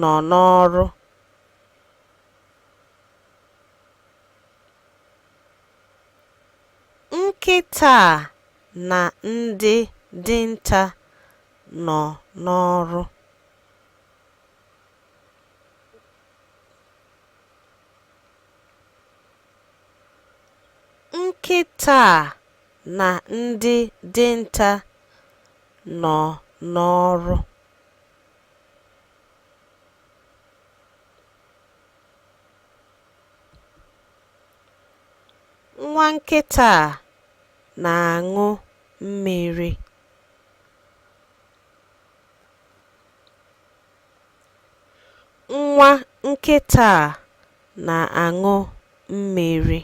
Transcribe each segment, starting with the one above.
nọ n'ọrụ nkịta a na ndị dinta nọ n'ọrụ nkịta a na ndị dinta nọ n'ọrụ Nwa nkịta a na-aṅụ mmiri. Nwa nkịta a na-aṅụ mmiri.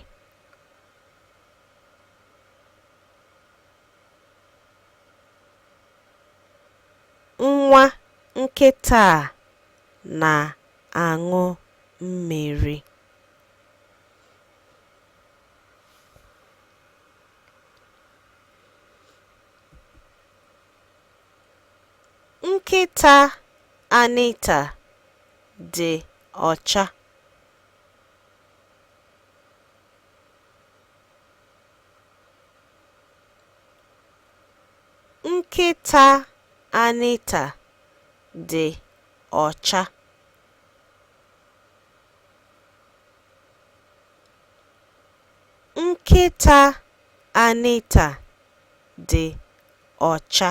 Nwa nkịta a na-aṅụ mmiri. Nkịta Anita dị ọcha. Nkịta Anita dị ọcha. Nkịta Anita dị ọcha.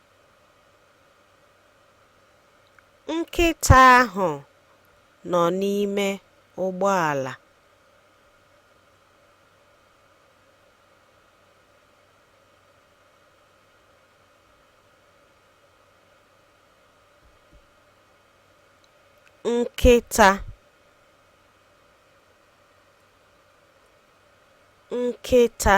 Nkịta ahụ nọ n'ime ụgbọala. nkịta nkịta